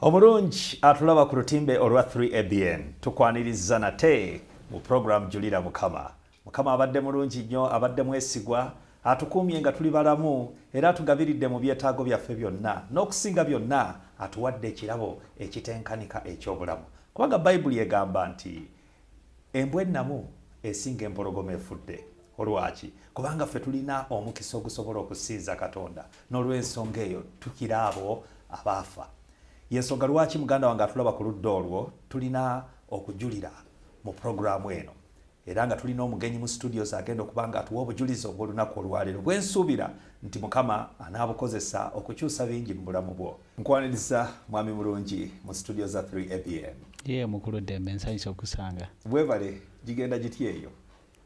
omulungi atulaba ku lutimbe olwa 3abn tukwaniriza nate mu puroguramu julira mukama mukama abadde mulungi nnyo abadde mwesigwa atukuumye nga tuli balamu era atugabiridde mu byetaago byaffe byonna n'okusinga byonna atuwadde ekirabo ekitenkanika eky'obulamu kubanga bayibuli egamba nti Embwa ennamu esinga empologoma efudde. Olwaki? Kubanga ffe tulina omukisa ogusobola okusinza Katonda. N'olw'ensonga eyo, tukira abo abaafa. Y'ensonga lwaki muganda wange atulaba ku ludda olwo, tulina okujulira mu programu eno. Era nga tulina omugenyi mu studios agenda okuba nga atuwa obujulizi obw'olunaku olwaleero, bwe nsuubira nti Mukama anaabukozesa okukyusa bingi mu bulamu bwo. Nkwaniriza mwami mulungi mu studio za 3 ABN. Yee mukulu Dembe nsanyuse okusanga. Webale gigenda giti eyo.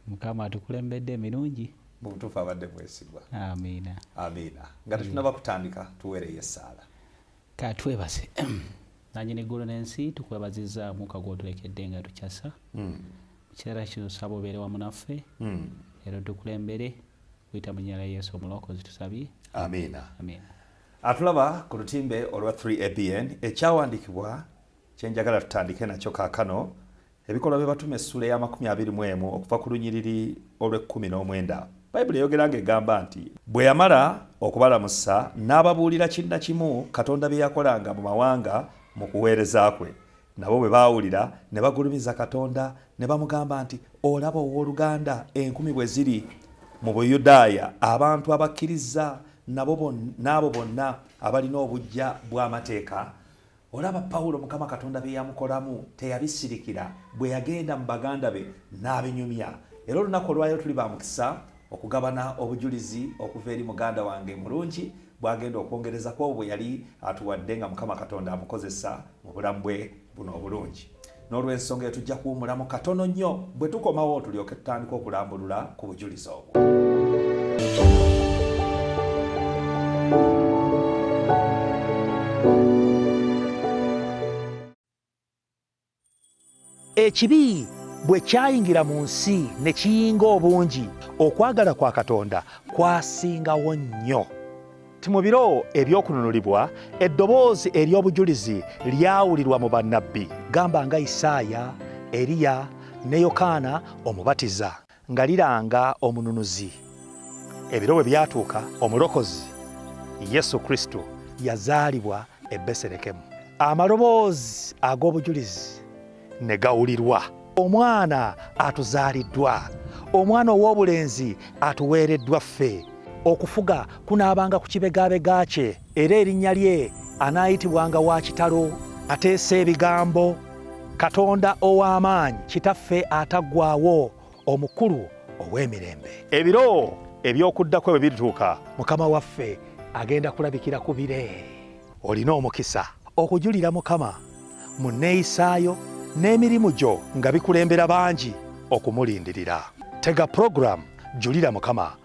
Mukama atukulembedde emirungi. Mu butuufu abadde mwesigwa. Amiina. Amiina. Nga tetunaba kutandika tuweereyo essaala. Ka twebase. Nanyi ne ggulu n'ensi tukwebaziza muka gw'otulekedde nga tukyasa. Mm. Kiseera kino tusaba obeere wamu naffe. Mm. Era otukulembere. Kuyita mu nnyala Yesu omulokozi tusabye. Amiina. Amiina. Atulaba ku lutimbe olwa 3ABN ekyawandikibwa kyenjagala tutandike nakyo kakano ebikolwa bye batuma essula eya makumi abiri mu emu okuva ku lunyiriri olw'ekkumi n'omwenda bayibuli eyogera nga egamba nti bwe yamala okubalamusa n'ababuulira kinna kimu katonda bye yakolanga mu mawanga mu kuweereza kwe nabo bwe baawulira ne bagulumiza katonda ne bamugamba nti olaba ow'oluganda enkumi bwe ziri mu buyudaaya abantu abakkiriza n'abo bonna abalina obujja bw'amateeka olaba pawulo mukama katonda bye yamukolamu teyabisirikira bwe yagenda mu baganda be n'abinyumya era olunaku olwaliro tuli ba mukisa okugabana obujulizi okuva eri muganda wange mulungi bwagenda okwongereza kwobwo bwe yali atuwadde nga mukama katonda amukozesa mu bulamu bwe buno obulungi n'olwensonga eyo tujja kuwumulamu katono nnyo bwe tukomawo tulyoke tutandika okulambulula ku bujulizi obwo Ekibi bwe kyayingira mu nsi ne kiyinga obungi, okwagala kwa Katonda kwasingawo nnyo. Mu biro eby'okununulibwa, eddoboozi ery'obujulizi lyawulirwa mu bannabbi, gamba nga Isaaya, Eriya, ne Yokaana Omubatiza. Nga liranga omununuzi. Ebiro bwe byatuuka, omulokozi Yesu Kristo yazaalibwa e Beserekemu. Amaloboozi ag'obujulizi ne gawulirwa. Omwana atuzaaliddwa, omwana ow'obulenzi atuweereddwa ffe. Okufuga kunaabanga ku kibegabega kye. Era erinnya lye anaayitibwanga wa kitalo. Ateesa ebigambo, Katonda ow'amaanyi, Kitaffe ataggwaawo, Omukulu ow'emirembe. Ebiro eby'okudda kwe bwe birituuka. Mukama waffe agenda kulabikira ku bire. Olina omukisa okujulira Mukama mu nneeyisaayo n'emirimu gyo nga bikulembera bangi okumulindirira. Tega pulogulaamu Julira Mukama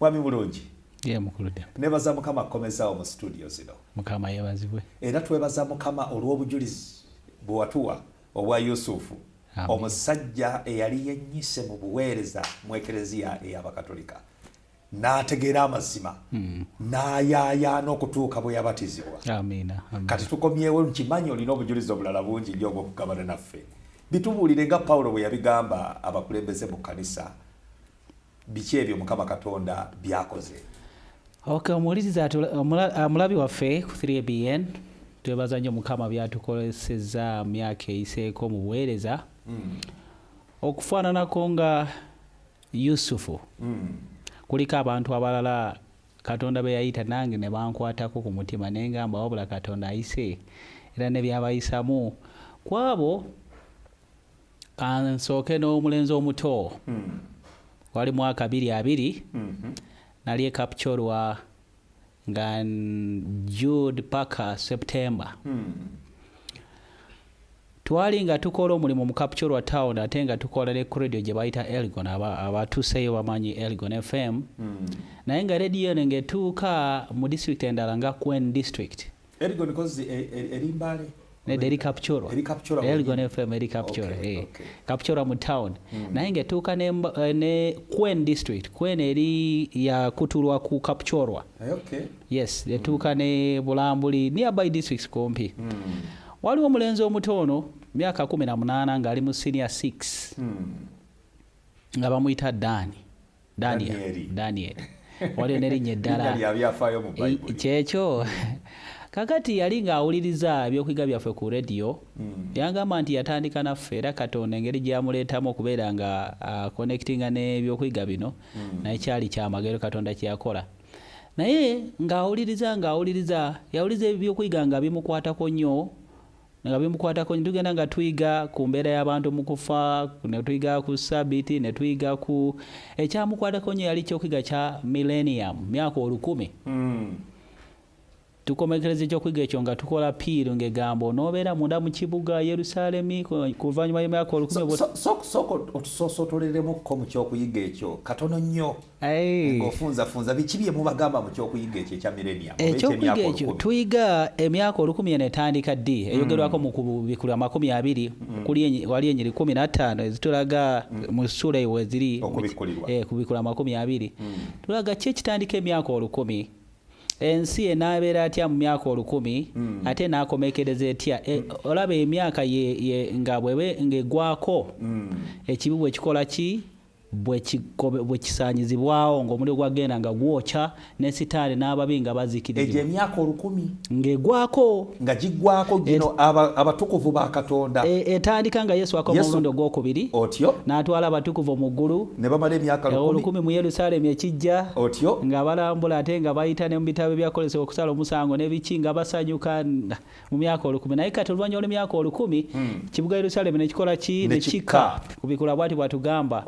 mwami bulungi nebaza mukama kukomezawo mu situdio zino mukama yebazibwe era twebaza mukama olw'obujulizi bwewatuwa obwa yusufu omusajja eyali yenyise mu buweereza mu ekereziya ey'abakatolika n'ategeera amazima hmm. n'ayaayaana okutuuka bwe yabatizibwa kati tukomyewo nkimanyi olina obujulizi obulala bungi nyo obwokugabana naffe bitubuulire nga pawulo bwe yabigamba abakulembeze mu kkanisa biki ebyo mukama katonda byakoze okay omuwuliriza amulabi waffe ku 3 bn twebaza nnyo mukama byatukoleseza myaka eyiseeko mu buweereza mm. okufaananako nga yusufu mm. kuliko abantu abalala katonda be yayita nange ne bankwatako ku mutima naye ngamba wabula katonda ayise era ne byabayisamu kwabo kansooke n'omulenzi omuto hmm. wali mwaka biri abiri hmm. nali ekapcorwa nga jude paka september hmm. twali nga tukola omulimu mu capcorwa town ate nga tukola ne credio gye bayita elgon abatuseeyo aba bamanyi elgon fm naye nga rediyo eno ngaetuuka mu district endala nga quen district Elgon kozi eri mbale nedda eri kapcoro elgon fm eri kapcoro eh. kapcoro mu town hmm. naye ngaetuuka ne eh, quen district quen eri yakutulwa ku kapcorwa eh, yes etuuka hmm. ne bulambuli nearby districts kumpi hmm. waliwo omulenzi omuto ono myaka kumi na munaana ngaali mu senior six nga bamuyita daani danyeri danyeri waliyo nerinnya eddala kyekyo kakati yali ng'awuliriza ebyokuyiga byaffe ku rediyo hmm. yagamba nti yatandika naffe era katonda engeri gyeyamuleetamu okubeera nga akonectinga n'ebyokuyiga bino hmm. naye kyali kyamagero katonda kyeyakola naye ng'awuliriza ng'awuliriza yawuliriza ebyokuyiga nga bimukwatako nnyo nga bimukwatako tugenda nga tuyiga ku mbeera y'abantu mu kufa ne tuyiga ku sabiti ne tuyiga ku ekyamukwatako nyo yali kyokuyiga kya millennium myaka olukumi mm. tukomekereza ekyokuyiga ekyo nga tukola piiru ng'egambo n'obeera munda mu kibuga yerusalemi kuvanyuma y'emyaka olukumi so, so, so, so, otusoosootoleremukko mu kyokuyiga ekyo katono nnyo ngaofunzafunza biki bye mubagamba mu kyokuyiga ekyo ekya millennium ekyokuyiga ekyo tuyiga emyaka olukumi eno etandika ddi mm. eyogerwako mu kubikulu amakumi abiri mm. wali enyiri kumi nattaano ezitulaga mm. mu ssuula eyo weziri eh, kubikulu amakumi abiri tulaga ki ekitandika emyaka olukumi ensi enaabeera atya mu myaka olukumi hmm. ate naakomekereza etya e, hmm. olaba emyaka nga bwebe ngaegwako hmm. ekibi bwekikola ki bwe kisaanyizibwawo ng'omuliro gwagenda nga gwokya ne sitaani n'ababi nga bazikirizibwa emyaka olukumi ng'egwako nga giggwako gino abatukuvu ba katonda e, etandika nga yesu akoma omulundi ogwokubiri otyo n'atwala abatukuvu mu ggulu ne bamala emyaka e, olukumi mu yerusaalemi ekijja otyo nga balambula ate nga bayita ne mu bitabo ebyakozesa okusala omusango ne biki nga basanyuka mu myaka olukumi naye kati oluvannyuma lw'emyaka olukumi hmm. kibuga yerusalemu nekikola ki nekika kubikula bwati bwatugamba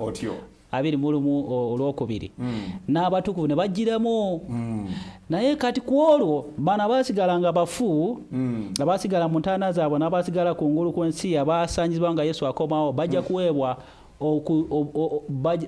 abiri mu lumu olwokubiri hmm. n'abatukuvu ne bagiramu hmm. naye kati ku olwo bano abaasigala nga bafu abaasigala mu ntaana zaabwe n'abaasigala ku ngulu kw'ensi abaasanyizibwa nga yesu akomawo bajja kuweebwa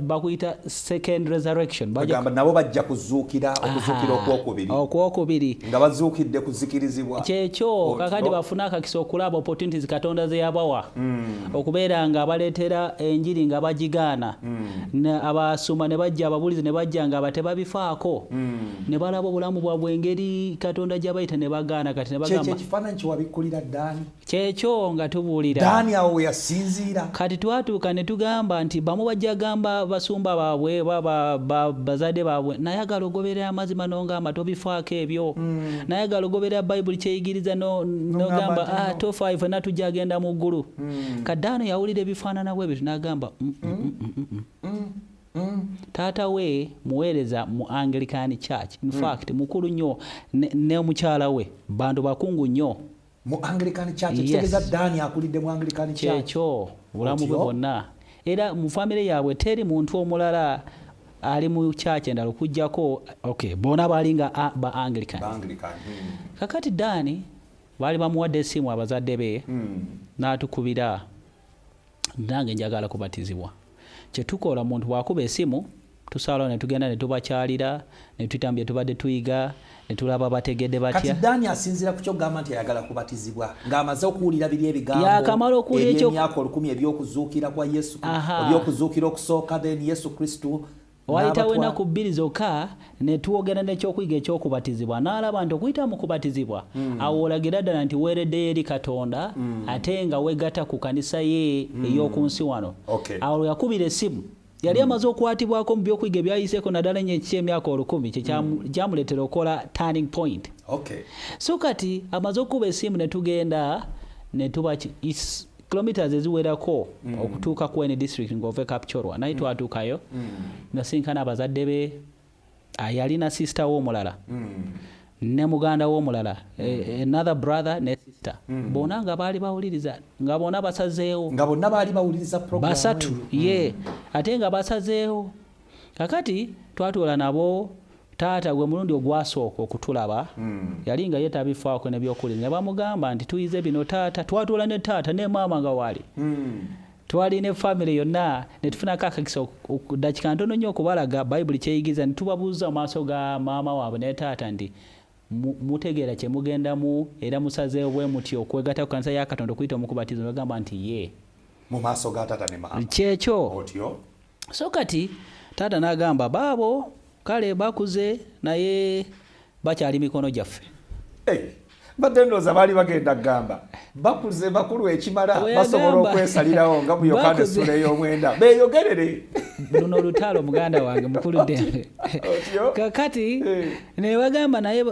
bakuyita second resurrection bagamba nabo bajja kuzuukira okuzuukira okwokubiri okwokubiri nga bazuukidde kuzikirizibwa kyekyo kakati bafuna akakisa okulaba opportunities katonda zeyabawa hmm. okubeera nga baleetera enjiri nga bagigaana hmm. abasuma ne bajja ababulizi ne bajja nga batebabifaako hmm. ne balaba obulamu bwabwe engeri katonda gyabayita ne bagaana kati ne bagamba ekifaananyi kyewabikkulira ddaani kyekyo nga tubuulira daani awo weyasinziira kati twatuuka ne tugamba nti bamu bajja gamba basumba baabwe bazadde baabwe nayagala ogoberera amazima nongamba tobifaako ebyo mm. nayagala ogoberera bayibuli kyeyigiriza nogamba ah, tofaayo fena tujja agenda mu ggulu mm. kati daani yawulira ebifaanana bwe ebyo nagamba mm, mm. taata we muweereza mu anglican church infact mukulu nnyo ne mukyala we bantu bakungu nnyo mu anglican church kitegeza yes. dani akulidde mu anglican church kyekyo bulamu bwe bwonna era mu famire yaabwe teri muntu omulala ali mu church endala okujjako okay bona bali nga ba anglican anglican hmm. kakati dani bali bamuwadde esimu abazadde be hmm. n'atukubira nange njagala kubatizibwa kyetukola omuntu bwakuba esimu tusaalawo netugenda netubakyalira netuyitamu byetubadde tuyiga netulaba bategedde batyadani asinzira ku kyogamba nti ayagala kubatizibwa ng'amaze okuwulira biri ebigamboyakamala okuwuliraemyaka olukumi ebyokuzuukira kwa yesu ebyokuzuukira okusooka then yesu kristu Waayitawo ennaku bbiri zokka ne twogera n'ekyokuyiga eky'okubatizibwa n'alaba nti okuyita mu kubatizibwa mm. awo olagira ddala nti weereddeyo eri katonda mm. ate nga weegata ku kanisa ye mm. ey'oku nsi wano okay. awo lwe yakubira essimu yali amaze okukwatibwako mu byokuyiga ebyayiseeko naddala enyo ekiki emyaka olukumi kyekyamuleetera okukola turning point okay. so kati amaze okukuba esimu ne tugenda ne tuba kilometers eziwerako mm. okutuuka ku ene district ng'ove kapchorwa naye mm. twatuukayo mm. nasinkana abazadde be yalina sister we omulala ne muganda we omulala e, e, another brother ne sister bona nga baali bawuliriza nga bona basazeewo nga bonna baali bawuliriza basatu ye ate nga basazeewo kakati twatuula nabo taata gwe mulundi ogwasooka okutulaba hmm. yali nga ye tabifaako nebyokulira ne bamugamba nti tuyize bino taata twatuula ne taata ne maama nga waali hmm. twali ne famire yonna ne tufunako akakisa dakika ntono nnyo okubalaga bayibuli kyeyigiza ne tubabuuza mu maaso ga maama waabwe ne taata nti mutegeera kye mugendamu era musazeewo bwe muti okwegata ku kanisa ya katonda okuyita omukubatizo nogamba nti ye mu maaso ga taata ne maama kyekyo otyo so kati taata n'agamba baabo kale bakuze naye bakyali mikono gyaffe hey. mbadde ndooza baali bagenda kugamba bakuze bakulu ekimala basobola okwesalirawo nga mu yokaana essula ey'omwenda beeyogerere luno olutalo muganda wange mukulu ddembe kakati eh. nebagamba naye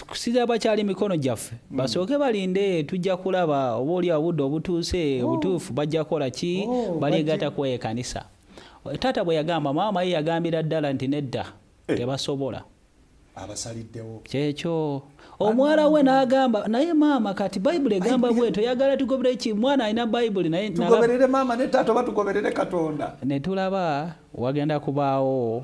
kusiza bakyali mikono gyaffe hmm. basooke balinde tujja kulaba oba oli obudde obutuuse oh. obutuufu bajja kukola ki oh, baligata ku ekanisa taata bwe yagamba maama ye yagambira ddala nti nedda eh. tebasobola abasaliddewo kyekyo omwala we n'agamba naye maama kati bayibuli egamba bwe toyagala tugoberere ki mwana alina bayibuli naye tugoberere maama ne taata oba tugoberere katonda ne tulaba wagenda kubaawo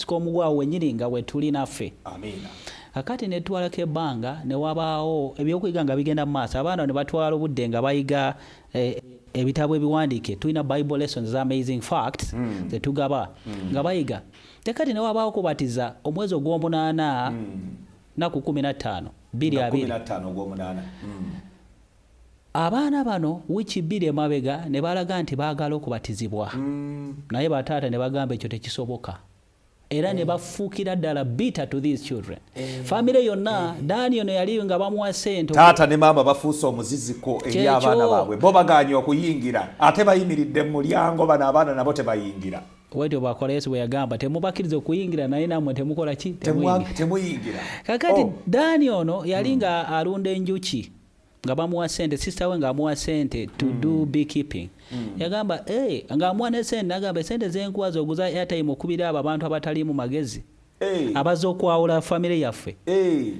sika omugwawo wenyini nga wetuli naffe kakati netwalako ebbanga newabaawo ebyokuyiga nga bigenda mu maaso abaana nebatwala obudde nga bayiga eh, ebitabo ebiwandiike tulina bible lessons za amazing facts mm. zetugaba mm. nga bayiga tekati newabaawo kubatiza omwezi ogwomunaana mm. naku kumi nattaano biri abiri hmm. Abaana bano wiiki bbiri emabega ne balaga nti baagala okubatizibwa naye bataata ne bagamba ekyo tekisoboka era ne bafuukira ddala bitter to these children. Famire yonna Daani ono yali nga bamuwa ssente. Taata ne maama bafuuse omuziziko eri abaana baabwe. Bo bagaanye okuyingira ate bayimiridde mu mulyango bano abaana nabo tebayingira. wetyo bwakola yesu bweyagamba temubakkiriza okuyingira naye namwe temukola ki temuyingira kakati oh. dani ono yali hmm. nga alunda enjuki nga bamuwa sente sister we ng'amuwa sente to mm. do beekeeping mm. yagamba hey, eh, ng'amuwa ne sente nagamba esente zenkuwa zoguza airtime okubira abo abantu abataliimu magezi hey. Eh. abaza okwawula famire yaffe hey. Eh.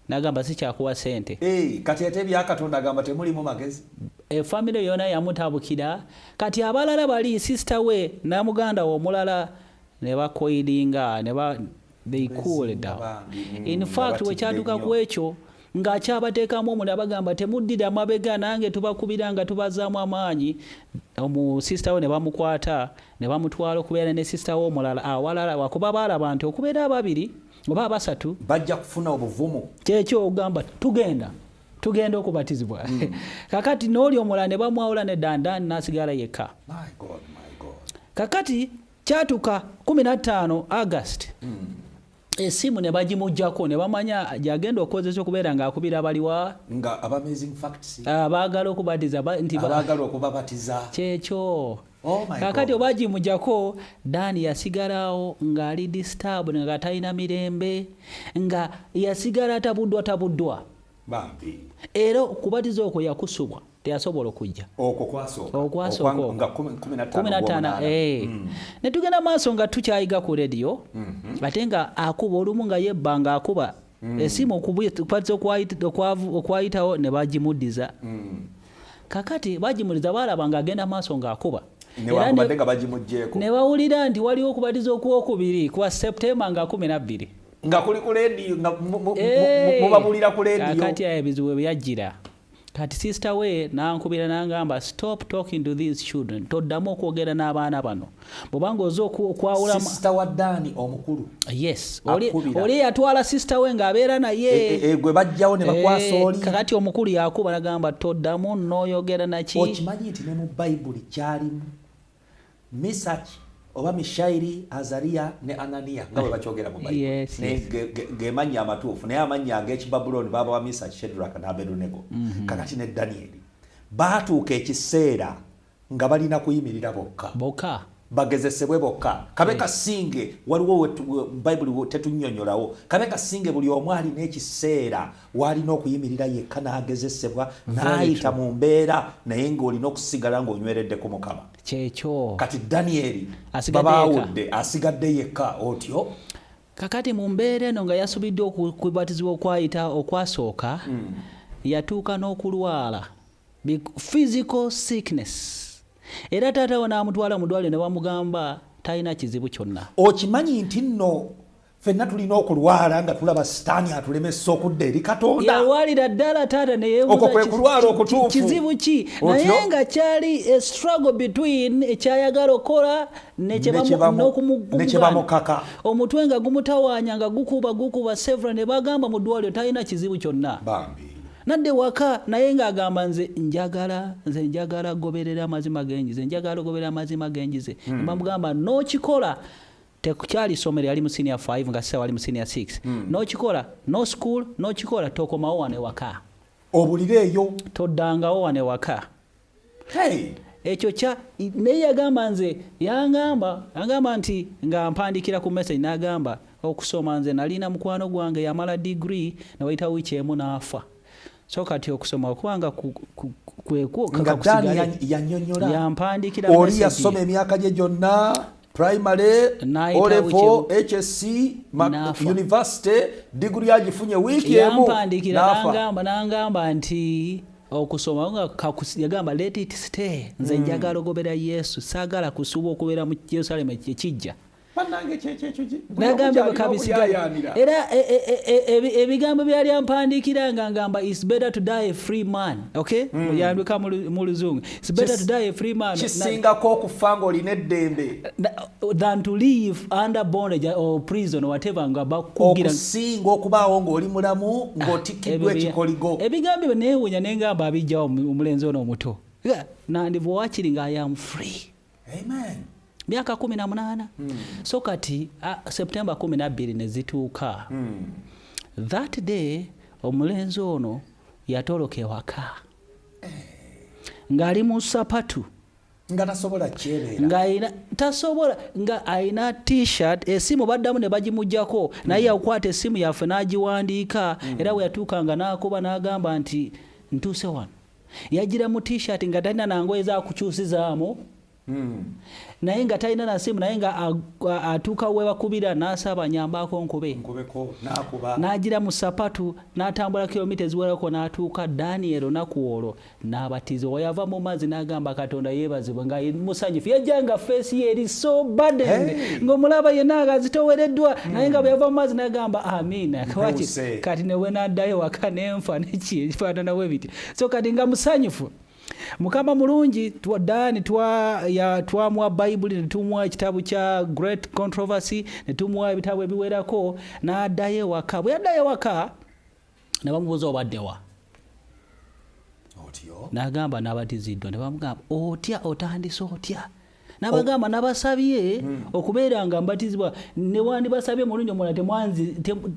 nagamba sikyakuwa sente hey. kati ate ebyakatonda agamba temulimu magezi efamire yona yamutabukira kati abalala bali sister we namuganda we omulala ne bakoidinga ne ba they cool down mm, in fact wekyaduka ku ekyo ng'akyabateekamu omulala bagamba temuddira mabega nange tubakubira nga tubazaamu amaanyi omu sisita we ne bamukwata ne bamutwala okubeera ne sisita we omulala awalala wakuba baalaba nti okubeera ababiri oba abasatu bajja kufuna obuvumu kyekyo ogamba tugenda tugenda okubatizibwa hmm. kakati n'oli omulala ne bamwawula ne dandani n'asigala yekka kakati kyatuka 15 august mm. esimu ne bagimujjako ne bamanya gyagenda okukozesa okubeera ng'akubira baliwa nga abamazing facts abaagala okubatiza nti abaagala okubabatiza kyekyo oh kakati oba gimujjako daani yasigalawo ng'ali disturb nga talina mirembe nga yasigala tabuddwa tabuddwa era okubatiza okwo yakusubwa teyasobola okujja okwasookaokwasookaokuminataano eh. hmm. ne tugenda maaso nga tukyayiga ku rediyo mhm. ate nga akuba olumu nga yebba nga akuba hmm. esimu okubatiza okwayitawo ne bagimuddiza hmm. kakati bagimuddiza baalaba nga agenda maaso nga akuba ne bawulira nti waliwo okubatiza okwokubiri kuba septemba nga kumi nabbiri nga kuli ku lediyo nga eh, mubabulira ku lediyo kati ayo ebizibu ebyajjira kati sister we nankubira nangamba stop talking to these children toddamu okwogera n'abaana bano bwobanga oza okwawula sister wa dani omukulu yes oli yatwala sister we ng'abeera naye e, e, e, gwe bajjawo ne bakwasa oli kakati omukulu yakuba nagamba toddamu noyogera naki okimanyi nti ne mu bayibuli kyalimu Misach oba Mishairi, Azaria ne Anania nga bwe bakyogera mu Bayibuli. Yes, Naye yes. ge- ge- ge mannya amatuufu naye amannya ag'Ekibabulooni baaba wa Misach, Shadrach n'Abedunego. Mhm. Kakati ne Danyeri baatuuka ekiseera nga balina kuyimirira bokka boka bagezesebwe bokka kabe kasinge waliwo wetu- we- bayibuli we- tetunyonyolawo kabe kasinge buli omu alina ekiseera waalina okuyimirira yekka n'agezesebwa n'ayita mu mbeera naye ng'olina okusigala ng'onyweredde ku mukama kyekyo kati danyeri babaawudde asigadde yekka otyo kakati mu mbeera eno nga yasubiddwa okubatizibwa okwayita okwasooka hmm. yatuuka n'okulwala physical sickness era taata we n'amutwala mu ddwaliro ne bamugamba talina kizibu kyonna okimanyi nti nno fenna tulina okulwala nga tulaba sitaani atulemesa okudda eri katondayalwalira ddala taata neyeokwo kwe kulwala okutuufu kizibu ki naye nga kyali eh, struggle between ekyayagala eh, okola nekyebamukaka omutwe nga gumutawanya nga gukuba gukuba sevra ne bagamba mu ddwaliro talina kizibu kyonna bambi nadde waka naye ng'agamba nze njagala nze njagala goberera amazima genjize njagala ogoberera amazima genjize hmm. nebamugamba nokikola tekukyali somero yali mu senior 5 nga sasa wali mu senior 6 mm. nokikola no school nokikola tokomawo wano ewaka obulire eyo toddangawo wano ewaka hey. ekyo kya naye yagamba nze yangamba yangamba nti nga mpandikira ku message nagamba okusoma nze nalina mukwano gwange yamala degree newayita wiiki emu naafa so kati okusoma okuba nga kwekwoyanyonyolaoli yasoma emyaka gye gyonna primary olevo hsc university diguli agifunye wiiki emunangamba nti okusoma nga yagamba let it stay nze hmm. njagala ogobera yesu saagala kusuuba okubeera mu yerusalemu ekijja nagambye bwekabisiga era e, e, e, ebigambo byali ampandiikira nga ngamba is better to die a free man okay hmm. muyandika mu luzungu is better to die a free man kisingako okufa ngaolina eddembe than to live under bondage or prison whatever nga bakugiransinga okubaawo ngaoli mulamu ah, ngaotikiddwa ekikoligo ebigambo byo neewunya nengamba abijjawo omulenzi ono omuto nandiva wakiri nga i am free Amen. myaka kumi na munaana mm. so kati uh, september kumi nabbiri ne zituuka mm. that day omulenzi ono yatoloka ewaka eh. ng'ali mu sapatu nga tasobola kyebeera nga ayina tasobola nga ayina t-shirt esimu baddamu ne bagimugyako mm. naye yakwata esimu yaffe n'agiwandiika mm. era bwe yatuuka nga n'akuba n'agamba nti ntuuse wano yajira mu t-shirt nga talina nangoye zakukyusizaamu hmm. naye nga talina nasimu naye nga atuuka webakubira nasaba nyambako nkube najira mu sapatu natambula kilomita eziwerako natuuka daniel onaku olwo nabatiza wayava mu mazi nagamba katonda yebazibwe nga musanyufu yajanga feesi ye eri so baden ngaomulaba yenna nga zitowereddwa naye nga bweyava mu mazi nagamba amiina kati newenadayo waka nenfa nekifaanana bwe bityo so kati nga musanyufu mukama mulungi dan twamuwa bayibuli netumuwa ekitabu kya great controversy netumuwa ebitabu ebiwerako nadayo ewaka bwe yaddayo ewaka nebamubuuza obaddewa nagamba nabatiziddwa nebamugamba otya otandise otya nabagamba nabasabye hmm. okubeera nga mbatizibwa newandibasabye mulundi omulala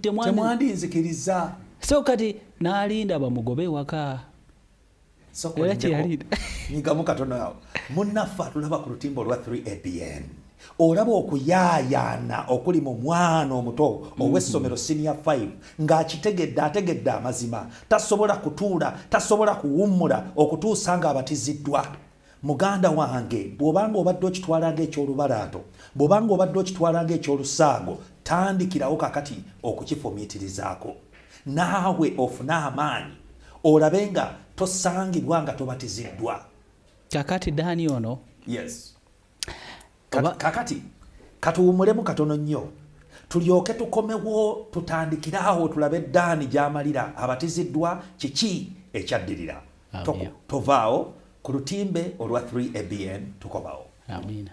temwandinzikiriza so kati nalinda bamugobe ewaka nyigamu katono awo munaffe atulaba ku lutimba olwa 3 abn olaba okuyaayaana okuli mu mwana omuto mm-hmm. ow'essomero siniya 5 ng'akitegedde ategedde amazima tasobola kutuula tasobola kuwummula okutuusa ng'abatiziddwa Muganda wange bw'obanga obadde okitwala ng'eky'olubalaato, bw'obanga obadde okitwala ng'eky'olusaago, tandikirawo kakati okukifumiitirizaako. Naawe ofune amaanyi olabe nga tosangibwa nga tobatiziddwa. Kakati Dani ono. Yes. kakati katuwumulemu katono nnyo tulyoke tukomewo tutandikire awo tulabe daani gyamalira abatiziddwa kiki ekyaddirira tovaawo ku lutimbe olwa 3 abn tukomawo Amina.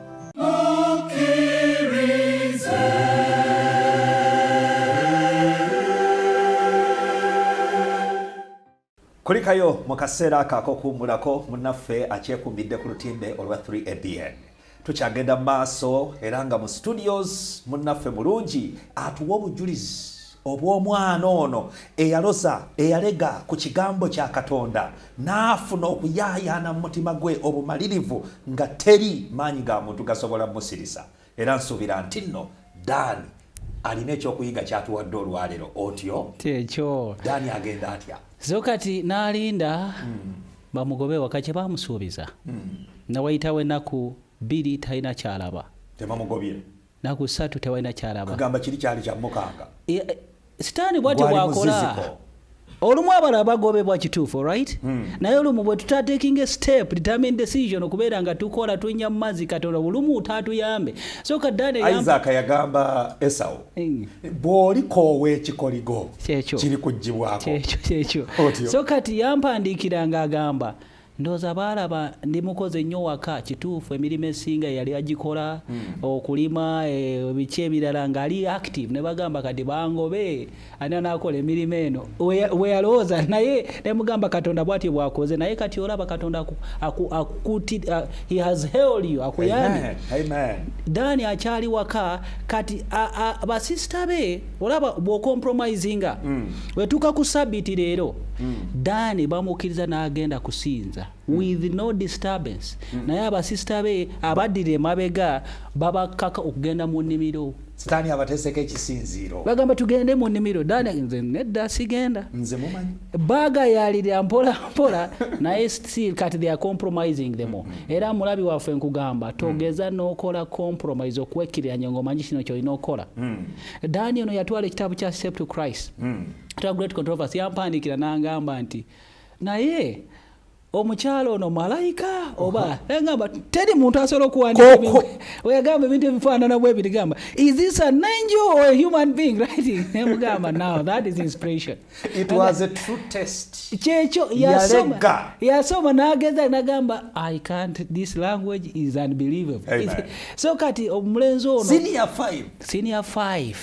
kulikayo mu kaseera ako akokuwummulako munnaffe akyekumbidde ku lutimbe olwa 3abn tukyagenda mu maaso era nga mu studios munnaffe mulungi atuwa obujulizi obw'omwana ono eyaloza eyalega ku kigambo kya katonda n'afuna okuyaayaana mu mutima gwe obumalirivu nga teri maanyi ga muntu gasobola musirisa era nsuubira nti nno daani alina ekyokuyiga kyatuwadde olwalero otyo tekyo daani agenda atya so kati n'alinda hmm. bamugobe waka kye bamusuubiza hmm. nawayitawo enaku bbiri talina kyalaba tebamugobye naku satu tewalina kyalaba kugamba kiri kyali kya mukanga e, e, sitaani bwatyo bwakola olumu abala abagobebwa kituufu orit hmm. naye olumu bwe tutatekinga estep determine decision okubeera nga tukola tunya mu mazzi katonda bulumu tatuyambe soka danisaaka yagamba esawo hmm. bw'olikoowa ekikoligo kiri kugibwako so kati yampandiikira nga agamba ndoza baalaba ndi mukoze nnyo waka kituufu emirimu esinga yali agikola mm. okulima eh, biki ebirala ngaali active ne bagamba kati bangobe ani anaakola emirimu eno weyalowooza naye nemugamba katonda bwatyo bwakoze naye kati olaba katonda akukuti uh, he has held you akuyambye dani akyali waka kati basisita be olaba bwocompromisinga mm. wetuuka ku sabiti leero mm. dani bamukkiriza n'agenda kusinza mm. with no disturbance mm. naye abasisita be abaddira emabega babakkaka okugenda mu nnimiro sitaani abateeseko ekisinziiro bagamba tugende mu nnimiro dani nze nedda sigenda nze mumanyi bagayalira mpola mpola naye still kati they are compromising them mm -hmm. era mulabi waffe nkugamba mm. togeza mm. nokola compromise okwekiriranya ngaomanyi kino kyolina okola mm. dani ono yatwala ekitabo kya step to christ mm. great controversy yampandikira nangamba nti naye omukyala ono malayika oba egamba teri muntu asobola okuwandiikaoyagamba ebintu ebifaanana bwe biri gamba is this an angel or a human being writing nemugamba now that is inspiration it was a true test kyekyo yasoma yasoma nageza nagamba i can't this language is unbelievable so kati omulenzi ono senior 5 senior 5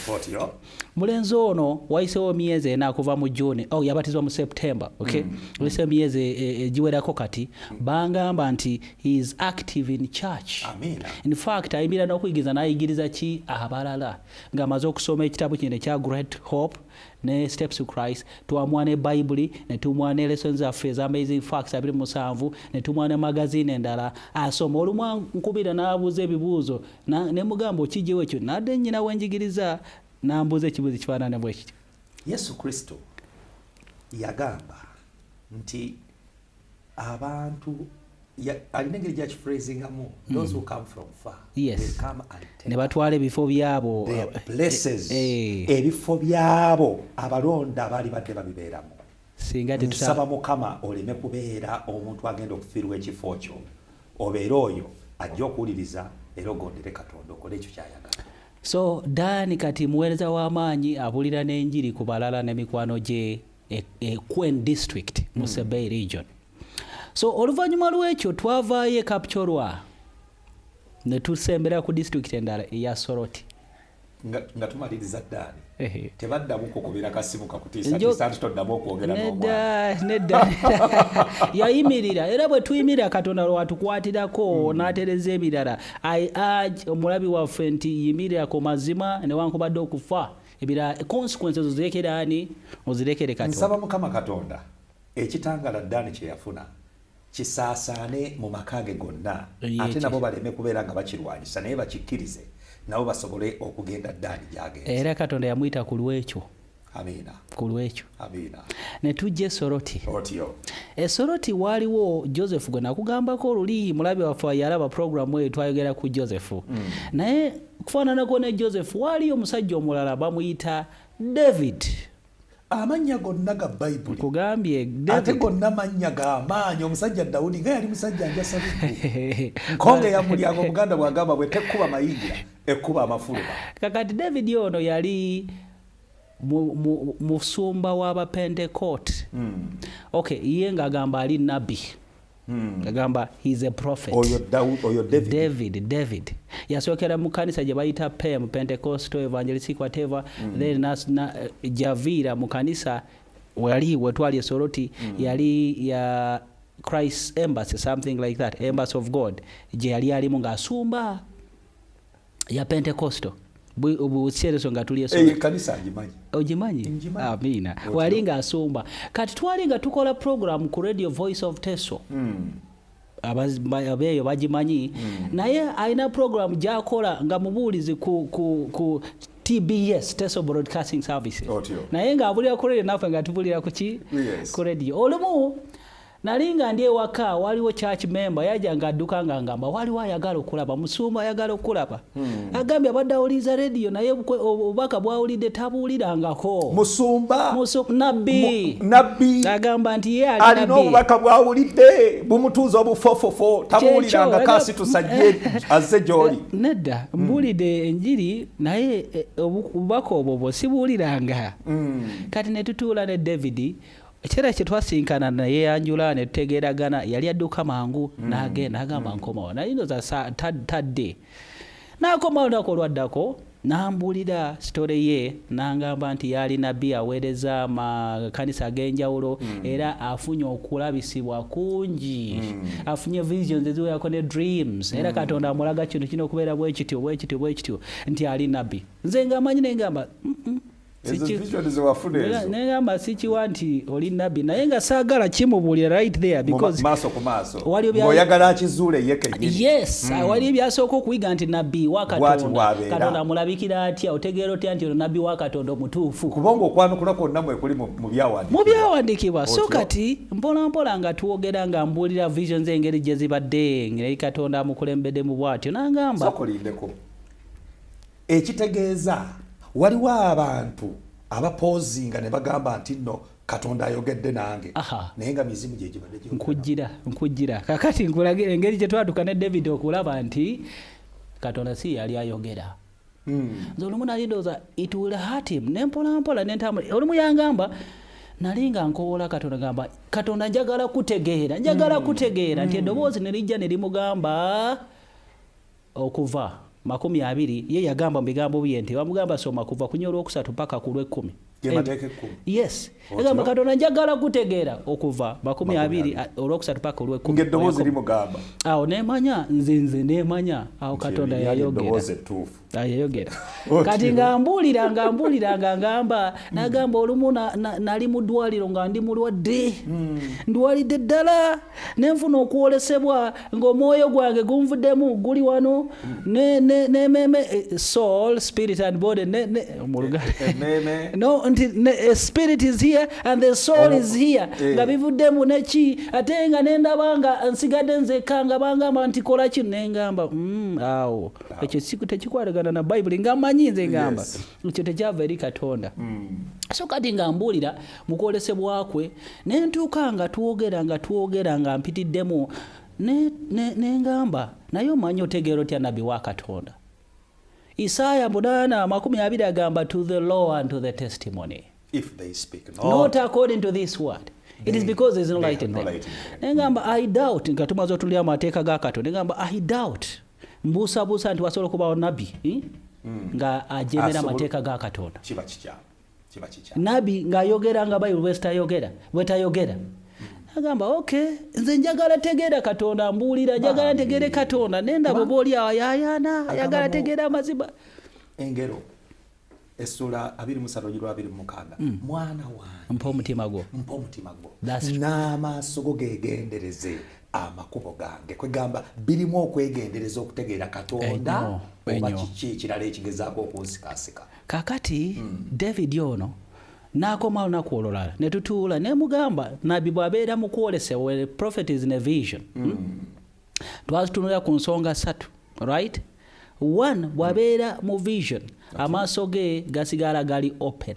mulenzi ono wayisewo myezi ena akuva mu june oh, yabatizwa mu september okay? mm. mm. wayisewo myezi egiwerako e, e, kati bangamba nti is active in church Amina. in fact ayimirira n'okuyigiriza n'ayigiriza ki abalala ng'amaze okusoma ekitabu kino ekya great hope ne steps to christ twamuwa ne bayibuli ne tumuwa ne lesson zaffe eza amazing facts abiri musanvu ne tumuwa ne magazine endala asoma olumu nkubira n'abuuza ebibuuzo ne mugamba okijjewo ekyo nadde nnyina wenjigiriza n'ambuuza ekibuuzo ekifaanana bwe kityo yesu kristo yagamba nti abantu alina engeri gyakifreezingamu ne batwala ebifo byabo eh, eh. ebifo byabo abalonda baali badde babibeeramu singa tetusaba mukama oleme kubeera omuntu agenda okufiirwa ekifo kyo obeere oyo ajja okuwuliriza era ogondere katonda okole ekyo kyayagala so daani kati muweereza w'amaanyi abulira n'enjiri ku balala ne mikwano gye e, e quen district mu hmm. sebay region so oluvannyuma lw'ekyo twavaayo e kapcorwa ne tusembera ku disitulikiti endala eya soroti nga tumaliriza ddaani tebaddamu kukubira kasimu kakutiisa nti toddamu okwogera nedda yayimirira era bwe tuyimirira katonda lwatukwatirako hmm. n'atereza ebirala i urge omulabi waffe nti yimirira ku mazima newankubadde okufa ebira consequence ezo zirekere ani ozirekere katonda nsaba mukama katonda ekitangala ddaani kye yafuna kisaasaane mu maka ge gonna ate nabo baleme kubeera nga bakirwanyisa naye bakikkirize nabo basobole okugenda ddaani gyagenze era katonda yamuyita ku lwekyo amiina ku lwekyo amiina ne tujja esoroti otyo esoroti waaliwo joseph gwe nakugambako oluli mulabi waffe yalaba programu eyo twayogera ku joseph mm. naye kufaananako ne joseph waaliyo omusajja omulala bamuyita david amannya gonna ga bayibuli kugambye ate gonna mannya ga maanyi omusajja dawudi nga yali musajja njasau nkonga eyamulyango omuganda bwagamba bwe tekkuba mayingira ekkuba amafuluba kakati david ono yali musumba w'abapentekote hmm. ok ye ng'agamba ali nabbi Hmm. agamba he's a prophet oyo oyo david david david yasokera mu kanisa gye bayita pem pentecostal evangelistic whatever mm. then na, na javira mu kanisa wali wetwali esoroti mm. yali ya christ embassy something like that embassy of god gye yali alimu ng'asumba ya pentekosto buseereso nga tuli ekanisa ngimanyi ogimanyi amiina wali nga asumba kati twali nga tukola program ku radio voice of teso hmm. abeeyo bagimanyi hmm. naye alina program gyakola nga mubuulizi ku tbs teso broadcasting services naye nga abulira ku radio naffe nga tubulira kuki ku radio olumu nali nga ndi ewaka waliwo church member yaja nga adduka nga ngamba waliwo ayagala okulaba musumba ayagala okulaba hmm. agambye abadde awuliriza rediyo naye obubaka bwawulidde tabuwulirangako musumba nabbi nabbi agamba nti ye alina obubaka bwawulidde bumutuuza obufofofo tabuwuliranga kasi tusajje azze gyoli eh, nedda hmm. mbuulidde enjiri naye eh, obubaka obwo bwo sibuwuliranga hmm. kati ne tutuula ne davidi ekiseera kye twasinkana neyeyanjula ne tutegeeragana yali adduka mangu mm. n'agenda agamba mm. nkomawo naye noza tadde n'akomawo lunaku olwaddako n'ambuulira sitole ye n'angamba nti yaali nabbi aweereza amakanisa ag'enjawulo mm. era afunye okulabisibwa kungi afunye visions eziwerako ne dreams era katonda amulaga kintu kino okubeera bwekityo bwekityo bwekityo nti ali nabbi nze ng'amanyi nengamba mm -mm. negamba sikiwa nti oli nabbi naye nga saagala kimubuulira right there becausewalioyagala akizuule ye kenyini yes hmm. wali ebyasooka okuyiga nti nabbi wa katonda katonda amulabikira atya otegeera otya nti ono nabbi wa katonda omutuufu kubanga okwanukula kwonna mwekuli mu byawandiikibwa so kati mpolampola nga twogera nga mbuulira visions engeri gye zibadde ngeri katonda amukulembedemu bwatyo nangamba Ekitegeeza waliwo abantu abapoozinga ne bagamba nti nno katonda ayogedde nange naye nga mizimu gyegibaddenkujira nkujira kakati nkulagire engeri gye twatuka ne david okulaba nti katonda si yali ayogera hmm. nze olumu nali ndowooza it will hurt him ne mpolampola nentambula olumu yangamba nali nga nkowola katonda gamba katonda njagala kutegeera njagala hmm. kutegeera nti hmm. eddoboozi ne lijja ne limugamba Okuva, makumi abiri, ye yagamba mu bigambo bye nti bamugamba soma kuva kunya olwokusatu paka ku lwekkumi. Yes. Egamba Katonda njagala kutegeera okuva makumi abiri olwokusatu paka olwekkumi. Ng'eddoboozi limugamba. Awo neemanya nze nze neemanya awo Katonda yayogera. Yayogera. Kati nga mbuulira nga mbuulira nga ngamba nagamba olumu nali mu ddwaliro nga ndi mulwadde. Hmm. Ndwalidde ddala ne nfuna okwolesebwa ng'omwoyo gwange gunvuddemu guli wano nememe eh, soul spirit and body eh, nti eh, spirit is here and the soul oh, is here nga bivuddemu neki ate nga nendaba nga nsigadde nzekka nga bangamba nti kola kino nengamba mm, awo ekyo tekikwatagana na bayibuli nga manyi nze ngamba ekyo tekyava eri katonda mm. so kati nga mbuulira mu kwolesebwa kwe ne ntuuka nga twogera nga twogera nga mpitiddemu nengamba ne, ne naye omanyi otegeera otya nabbi wa katonda isaaya munaana amakumi abiri agamba to the law and to the testimony If they speak not, not according to this word it is because there is no light in them nengamba i doubt nga tumaze otuli amateeka ga katonda nengamba i doubt mbuusabuusa nti wasobola okubawo nabbi eh? hmm. nga ajemera amateeka ga katonda nabi ng'ayogera nga bayibuli bwezitayogera bwetayogera agamba ok nze njagala tegeera katonda mbuulira njagala ntegeere katonda nenda bweba oli awo yayana ayagala tegeera amazima engero esula 2326 hmm. mwana wange mpa omutima gwo mpa omutima gwo n'amaaso go gegendereze amakubo gange kwegamba birimu okwegendereza okutegeera katonda oba kiki ekirala ekigezaako okunsikasika kakati mm. david ono n'akoma olunaku olulala ne tutuula ne mugamba nabbi bw'abeera mu kwolesa well prophet is in a vision hmm? mm. twazitunulira ku nsonga ssatu right one bw'abeera mu vision amaaso ge gasigala gali open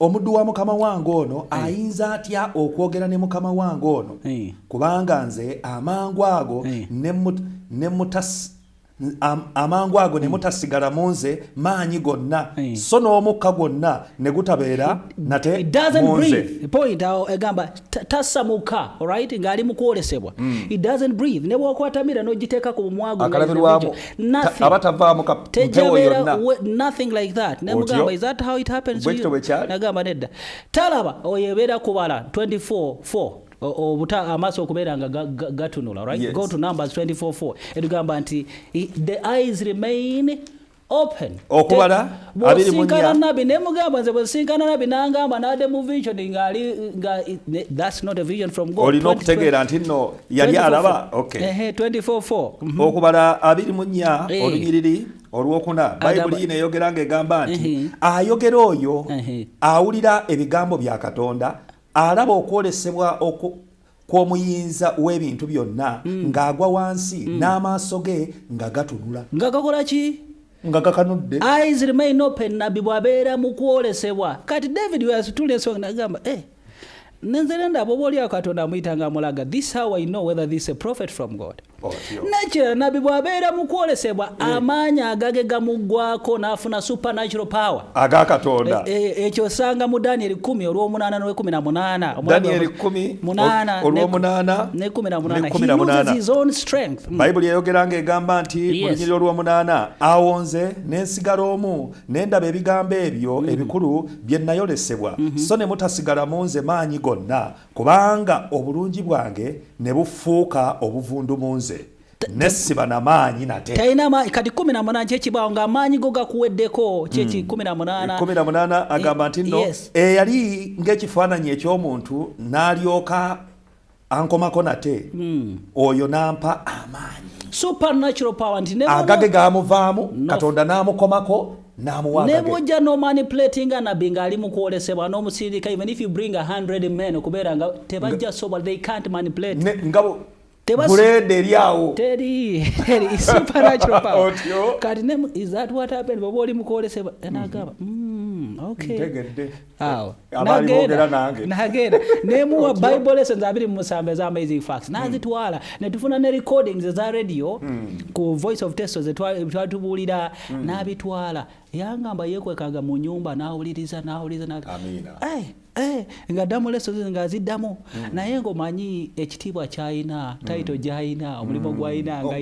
omuddu wa mukama wange ono eh. ayinza atya okwogera ne mukama wange ono eh. kubanga nze amangu ago eh. amangu ago ne mutasigala mu nze maanyi gonna so n'omukka gwonna ne gutabeera nate mu nze tasamuka right ng'ali mu kwolesebwa mm. it doesn't breathe ne bw'okwatamira n'ogiteeka ku bumwagu aba tavaamu mpewo yonna nothing like that ne mugamba is that how it happens to you nagamba nedda talaba oyo ebeera kubala 24 4 obuta amaaso okubeera nga gatunula right yes. go to numbers 24 4 etugamba nti the eyes remain open okubala abiri munya bwosinkana nabi ne mugamba nze bwosinkana nabi nangamba nade mu vision nga ali nga that's not a vision from god olina okutegeera nti no yali alaba okay ehe 244 mhm. okubala abiri munya eh. olunyiriri olwokuna bayibuli yino eyogera nga egamba nti ayogera oyo awulira ebigambo bya katonda alaba okwolesebwa kw'omuyinza w'ebintu byonna mm. ng'agwa wansi mm. n'amaaso ge nga gatunula nga gakola ki nga gakanudde eyes remain open nabbi bw'abeera mu kwolesebwa kati david weyasitula ensonga nagamba e eh, nenzere ndaba oba olyawo katonda amuyita nga amulaga this how i know whether this a prophet from god nekirala nabbi bwabeera mu kwolesebwa eh. amaanyi agage gamuggwako n'afuna supernatural power aga katonda eh, eh, ekyo osanga mu daniel 1 olwomunaana nolwekumi namunaana hmm. bayibuli eyogera nga egamba nti mulinyiriro olwomunaana awo nze nensigala omu nendaba ebigambo ebyo hmm. ebikulu bye nayolesebwa hmm. so ne mutasigala mu nze maanyi gonna Kubanga obulungi bwange ne bufuuka obuvundu mu nze, ne siba na maanyi nate. Talina maanyi kati kumi na munaana kyekibaawo ng'amaanyi go gakuweddeko kyeki hmm. kumi na munaana. Kumi na munaana agamba nti nno eyali eh, ng'ekifaananyi eky'omuntu n'alyoka ankomako nate hmm. oyo n'ampa amaanyi supernatural power nti agage gaamuvaamu katonda n'amukomako nebwojja nomaniplatinga nabbi ngaali mukwolesebwa nomusirika even if you bring 100 men okubeera nga tebajja sobola they can't manipulate grade eri awo teri eri supernatural power kati ne is that what happened baba oli mukwolesebwa nagamba mm, okay ntegedde awo nagenda nemuwa bible lessons abiri mumusamba eza amazing facts hmm. nazitwala mm. netufuna ne recordings eza radio mm. ku voice of testo zetwatubuulira mm. nabitwala yangamba yekwekaga mu nyumba nawuliriza nawuliriza na... hey, hey, eh, nga ddamu leso nga aziddamu mm. naye ngaomanyi ekitiibwa kyalina tayito mm. gyalina omulimu mm. gwalina nga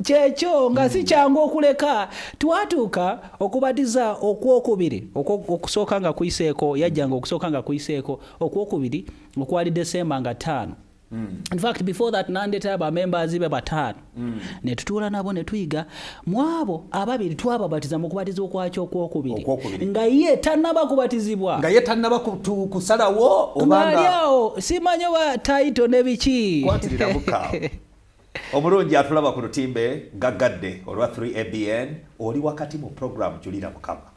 kyekyo nga si kyangu okuleka twatuuka okubatiza okwokubiri okusooka nga kuyiseeko yajjanga okusooka nga kuyiseeko okwokubiri okwali desemba nga ttaano Mm. In fact before that nandeta ba members be batano mm. ne tutuula nabo ne tuyiga mwabo ababiri twababatiza mu kubatiza okwakyo okwokubiri nga ye tannaba kubatizibwa nga ye tannaba kusalawo obanga aliawo simanyo ba taito ne biki omulungi atulaba ku lutimbe gaggadde olwa 3abn oli wakati mu puroguramu julira mukama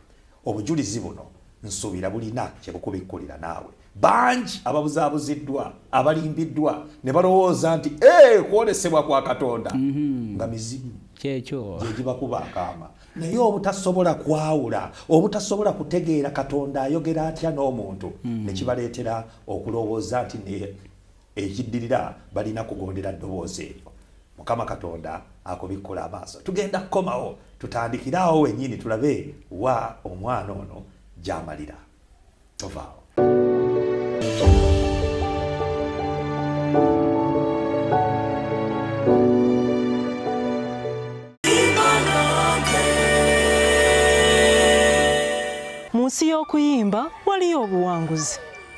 obujulizi buno nsuubira bulina kye bukubikkulira naawe bangi ababuzaabuziddwa abalimbiddwa ne balowooza nti ee kwolesebwa kwa katonda mhm. nga mizimu kyekyo gyegibakuba akaama naye obutasobola kwawula obutasobola kutegeera katonda ayogera atya n'omuntu mhm. ne kibaleetera okulowooza nti Ekiddirira balina kugondera ddoboozi eryo. Mukama Katonda akubikkule amaaso. Tugenda kukomawo tutandikire awo wennyini tulabe wa omwana ono gy'amalira. Tovaawo. nsi y'okuyimba waliyo obuwanguzi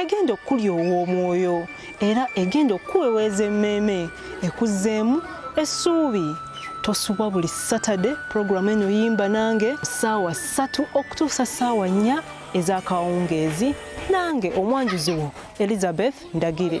egenda okukulya ow'omwoyo era egenda okukuweweeza emmeeme ekuzzeemu essuubi tosubwa buli satade pulogulaamu eno yimba nange saawa ssatu okutuusa saawa nnya ez'akawungeezi nange omwanjuzi wo elizabeth ndagire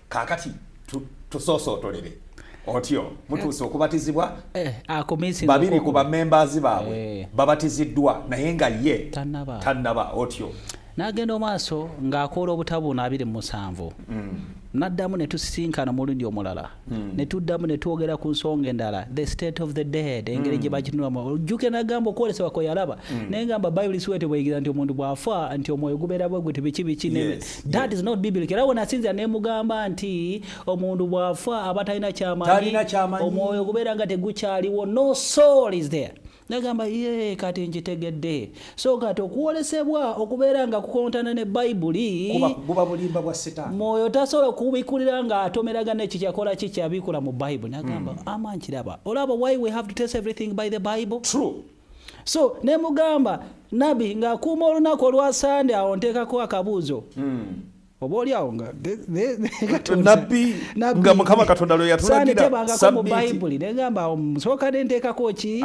kakati tusosootolere otyo mutuuse okubatizibwa eh, ah, babiri ku bamembazi baabwe eh. babatiziddwa naye nga ye tannaba otyo n'agenda omaaso ng'akoola obutabuuna abiri mu musanvu mm. n'addamu ne tusisinkana omulundi omulala mm. ne tuddamu ne twogera ku nsonga endala the state of the dead engeri mm. gye bakitunulamu ojjuke n'agamba okwolesebwa kwe yalaba naye ngamba bayibuli siwete bweyigira nti omuntu bw'afa nti omwoyo gubeera bwe gwe tibiki biki that is not biblical era wenasinzira nemugamba nti omuntu bwafa aba talina kyamanyi omwoyo gubeera nga tegukyaliwo no soul is there nagamba ye kati nkitegedde so kati okwolesebwa okubeera nga kukontana ne bayibuli mwoyo tasobola okubikulira nga atomeragana ekyo kyakola ki kyabikula mu bayibuli nagamba mm. ama nkiraba olaba why we have to test everything by the bible True. so nemugamba nabi ng'akuuma olunaku olwa sande awo nteekako akabuuzo hmm. oba oli awo nabbi nga mukama katonda lwe yatulagirasanitebangako mu bayibuli negamba awo musooka ne nteekako ki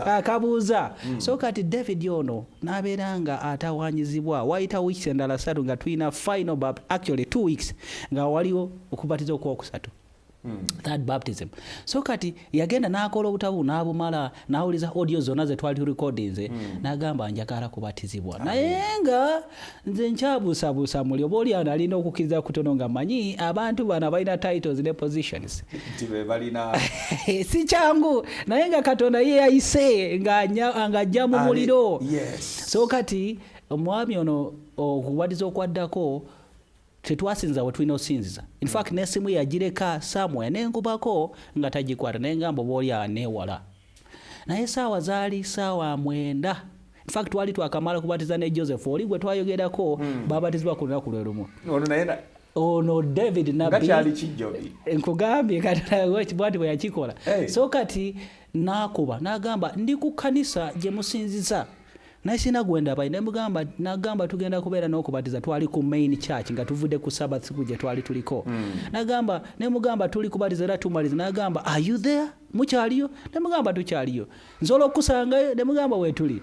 akabuuza hmm. so kati david ono n'abeera nga atawanyizibwa wayita weeks endala satu nga tulina final bap actually two weeks nga waliwo okubatiza okwokusatu Hmm. third baptism so kati yagenda n'akola obutabu n'abumala n'awuliza audio zonna ze twali turekodinze hmm. n'agamba njagala kubatizibwa naye nga nze nkyabuusabuusa muli oba oli analina okukkiriza kutono nga manyi abantu bano balina titles ne positions si kyangu naye nga katonda ye yayise ng'ajja mu muliro so kati omwami ono okubatiza okwaddako tetwasinza wetulina osinziza infact nesimu yagireka samwe nenkubako nga tagikwata naye ngambo boolya newala naye saawa zaali saawa mwenda infact twali twakamala kubatiza ne joseph oli gwe twayogerako hmm. babatizibwa ku lunaku lwe lumu ono david nabinkugambye katbwati bwe yakikola so kati nakuba nagamba ndi ku kanisa gye musinziza naye sina gwendabayi nemugamba nagamba tugenda kubeera nokubatiza twali ku main church nga tuvudde ku sabath siku gye twali tuliko mm. nagamba nemugamba tuli kubatiza era tumaliza nagamba are you there mukyaliyo nemugamba tukyaliyo nsobola okukusangayo nemugamba wetuli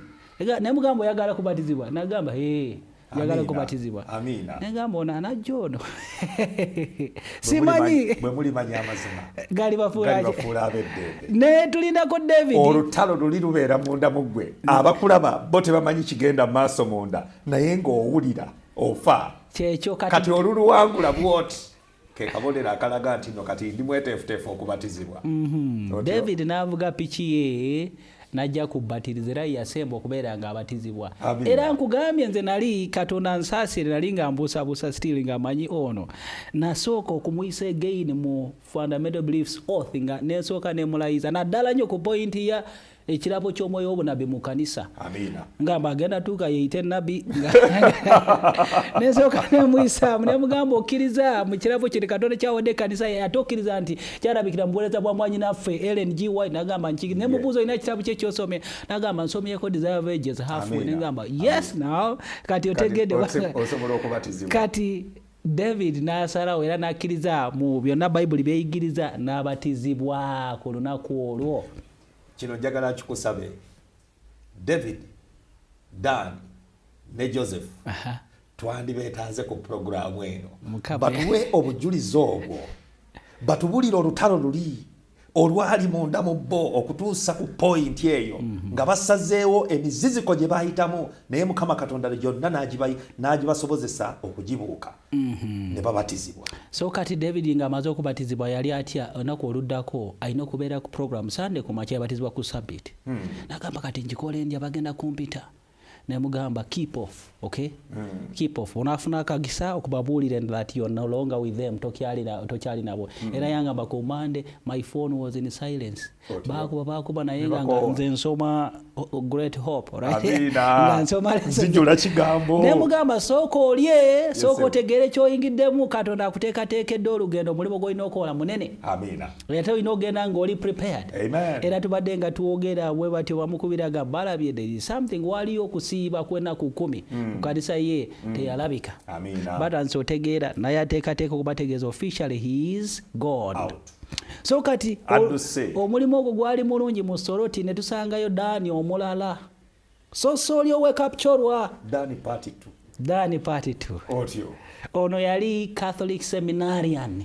nemugamba oyagala kubatizibwa nagamba hey. njagala kubatizibwa negamba ono anajja ono simanyi gali bafuulanaye tulinako davidolutalo luli lubeera munda muggwe abakulaba bo tebamanyi kigenda mu maaso munda naye ng'owulira ofa kyekyo kati oluluwangula bwoti kekabonero akalaga nti no kati ndi mweteefuteefu okubatizibwa mhm. david n'avuga piki ye najja kubatiriza era yasemba okubeera nga abatizibwa era nkugambye nze nali katonda nsaasire nali nga mbuusabuusa still nga manyi ono nasooka okumuyisa again mu fundamental beliefs oath nga nensooka nemulayiza naddala nnyo ku pointi ya ekirabo ky'omwoyo w'obunabi mu kanisa ngamba agenda tuuka yeeyite nabbi nensooka nemuyisaamu nemugamba okkiriza mu kirabo kiri katonda kyawadde ekanisa ate okkiriza nti kyalabikira mu buweereza bwa mwanyi naffe ellen g white nagamba nki nemubuuza olina ekitabo kye kyosomye nagamba nsomyeko desire of ages half nengamba yes now kati otegedde kati david n'asalawo era n'akkiriza mu byonna bayibuli byeyigiriza n'abatizibwa ku lunaku olwo Kino njagala kikusabe David, Dan ne Joseph twandibeetaaze ku pulogulaamu eno batuwe obujulizi obwo batubulire olutalo luli olwali munda mu bo okutuusa ku pointi eyo mhm. nga basazeewo emiziziko gye bayitamu naye mukama katonda gyonna n'agibasobozesa okugibuuka Mhm. ne babatizibwa so kati david nga amaze okubatizibwa yali atya olunaku oluddako alina okubeera ku program sande ku makya yabatizibwa ku sabit hmm. nagamba kati nkikola endya bagenda kumpita nemugamba keep off okay hmm. keep off onafuna akagisa okubabuulira that you're no longer with them tokyali nabo hmm. era yangamba ku mande my phone was in silence bakuba bakuba naye nga nze nsoma great hope nemugamba sooka olye sooka otegeere kyoyingiddemu katonda akuteekateekedde olugendo omulimu gwolina okukola munene ate olina ogenda ngaoli prepared era tubadde nga twogera we batyo bamukubiraga balabye there is something waliyo okusiiba kwenaku kumi hmm. ku kanisa ye hmm. teyalabika batandise otegeera naye ateekateeka okubategeeza officially he is god Out. so kati omulimu ogwo gwali mulungi mu soroti ne tusangayo daani omulala so sooli owekapcorwa daani pati t daani pati t ono yali catholic seminarian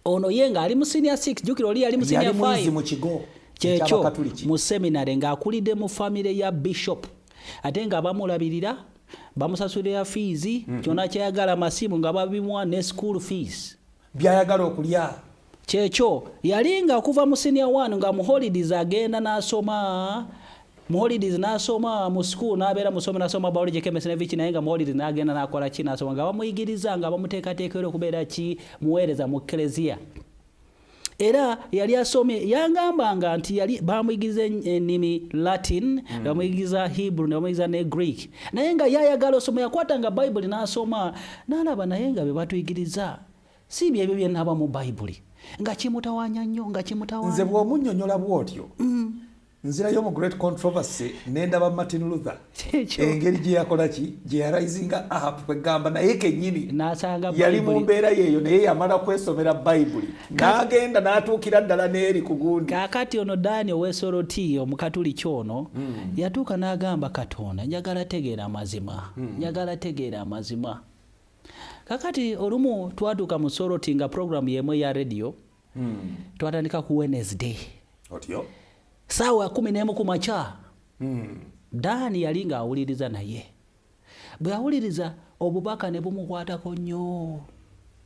ono ye nga ali mu senior 6 jukira oli yali mu senior 5 kyekyo mu seminary ng'akulidde mu famire ya bishop ate nga bamulabirira bamusasulira fiizi mm-hmm. kyona kyayagala masimu nga babimuwa ne school fees byayagala okulya kyekyo yalinga okuva mu senior one nga muholidays agenda n'asoma muholidays n'asoma mu school n'abeera musomi n'asoma biology chemistry ne viki naye nga muholidays n'agenda n'akola ki n'asoma nga bamuyigiriza nga bamuteekateeka era okubeera ki muweereza mu keleziya era yali asomye yangambanga nti yali bamuyigiriza ennimi latin mm. bamuyigiriza hebrew ne bamuyigiriza ne greek naye nga yayagala osoma yakwatanga bayibuli n'asoma Nalaba naye nga bebatuyigiriza si byebyo byenaba mu bayibuli nga kimutawanya nnyo nga kimutawanya nze bwomunyonyola bwotyo mm. nzirayo mu great controversy nendaba martin luther engeri gyeyakolaki gyeyarisinga ahab kwegamba naye kenyini yali mu mbeera yeeyo naye yamala kwesomera bayibuli nagenda natuukira ddala n'eri ku gundi kakati ono dani owesoroti omukatuliki ono mm. yatuuka n'agamba katonda njagala tegeera amazima mm. njagala tegeera amazima kakati olumu twatuuka mu soroti nga programu yemu eya radio mm. twatandika ku wednesday otyo saawa kumi n'emu ku makya mm. dani yali ng'awuliriza naye bwe yawuliriza obubaka ne bumukwatako nnyo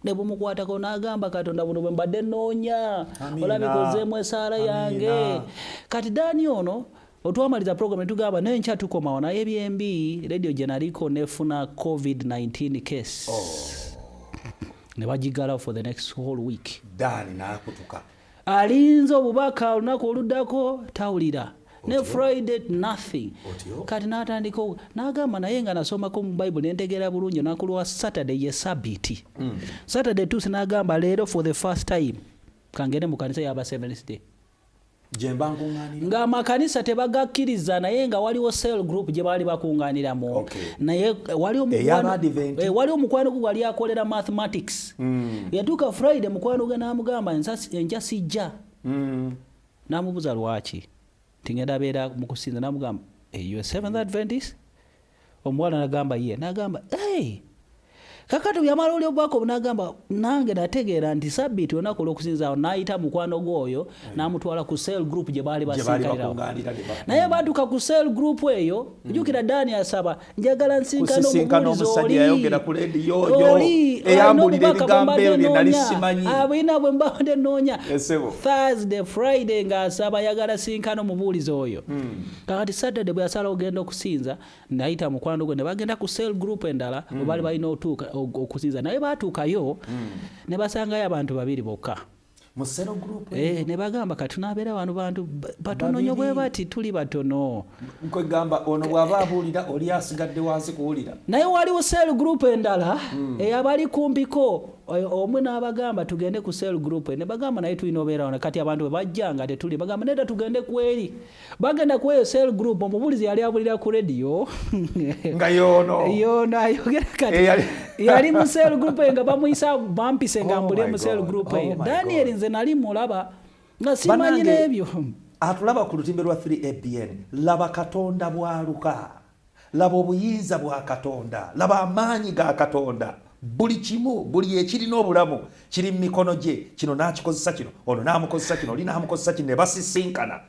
ne bumukwatako n'agamba katonda buno bwe mbadde nnoonya olabika ozeemu esaala yange kati daani ono otwamaliza program netugamba naye nkya tukomawo naye byembi radio gye naliko nefuna covid-19 case oh. ne bagigalawo for the next whole week daani nakutuka alinze obubaka olunaku oluddako tawulira ne friday nothing kati natandika nagamba naye nga nasomako mu bible nentegeera bulungi olunaku lwa saturday ye sabiti hmm. saturday tusi nagamba leero for the first time kangende mu kanisa yaba seventh day ng'amakanisa tebagakkiriza naye nga waliwo cell group gye baali bakuŋŋaaniramu naye wali omukwano eh, gwe gwali akolera mathematics mm. yatuuka friday mukwano gwe n'amugamba enkya sijja mm. n'amubuza lwaki tingenda abeera mu kusinza n'amugamba eyo seventh adventist omuwala nagamba ye nagamba hey! kakati yamala oli ogwako obunagamba nange nategeera nti sabiti olunaku olwokusinzaawo nayita mukwano gwe oyo hmm. namutwala ku sel group gye baali basinkalirawo naye batuka ku sel group eyo hmm. jukira dani asaba njagala nsinkana omusajja yayogera ku leediyo oyo eyambulira ebigambo ebyo bye nali simanyi abulina ah, bwe mbadde nnoonya thursday friday ng'asaba yagala sinkana omubuulizi oyo hmm. kakati saturday bwe yasala ogenda okusinza nayita mukwano gwe ne bagenda ku sel group endala hmm. webaali balina okusinza naye baatuukayo hmm. ne basangayo abantu babiri bokka Eh, ne bagamba kati tunabeera wano bantu batono nyo bwe bati tuli batono nkwegamba ono bw'aba abuulira oli asigadde wansi kuwulira naye waliwo sel group endala hmm. eyabali eh, kumpiko eh, omu n'abagamba tugende ku sel group ne bagamba naye tulina obeera wano kati abantu bwe bajja nga tetuli bagamba nedda tugende kweri bagenda ku eyo cell group omubulizi yali abulira ku radio nga yono yono ayogera kati eh, yali mu cell group nga bamuyisa bampise nga oh mbulire mu cell group oh eyo daniel nze nali mulaba nga simanyi n'ebyo atulaba ku lutimbe lwa 3 abn laba katonda bwaluka Laba obuyinza bwa Katonda, laba amaanyi ga Katonda. Buli kimu, buli ekirina obulamu kiri mu mikono gye. Kino n'akikozesa kino, ono n'amukozesa kino, oli n'amukozesa kino, ne basisinkana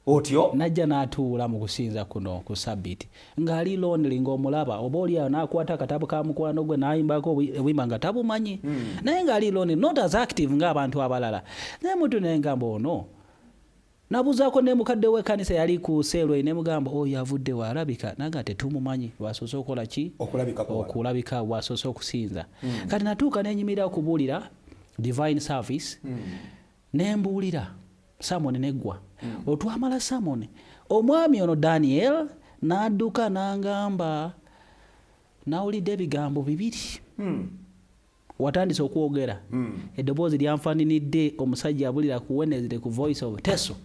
otyo. N'ajja n'atuula mu kusinza kuno ku Ssabbiiti, ng'ali lonely, ng'omulaba. Oba oli awo n'akwata akatabo ka mukwano gwe n'ayimbako obuyimba nga tabumanyi, hmm. naye ng'ali lonely, not as active ng'abantu abalala. Naye mutu ne ngamba ono Nabuuzaako ne mukadde w'ekkanisa eyali ku Seerway ne mugamba oyo avudde wa alabika naye nga tetumumany lwasoose okukola ki okulabika bwasoose okusinza hmm. kati natuuka nenyimirira okubuulira divine service hmm. nembuulira samoni neggwa hmm. otwamala samoni omwami ono daniel n'adduka n'angamba nawulidde ebigambo bibiri watandise okwogera hmm. eddoboozi lyanfaninidde omusajja abulira ku wenezde ku voice of teso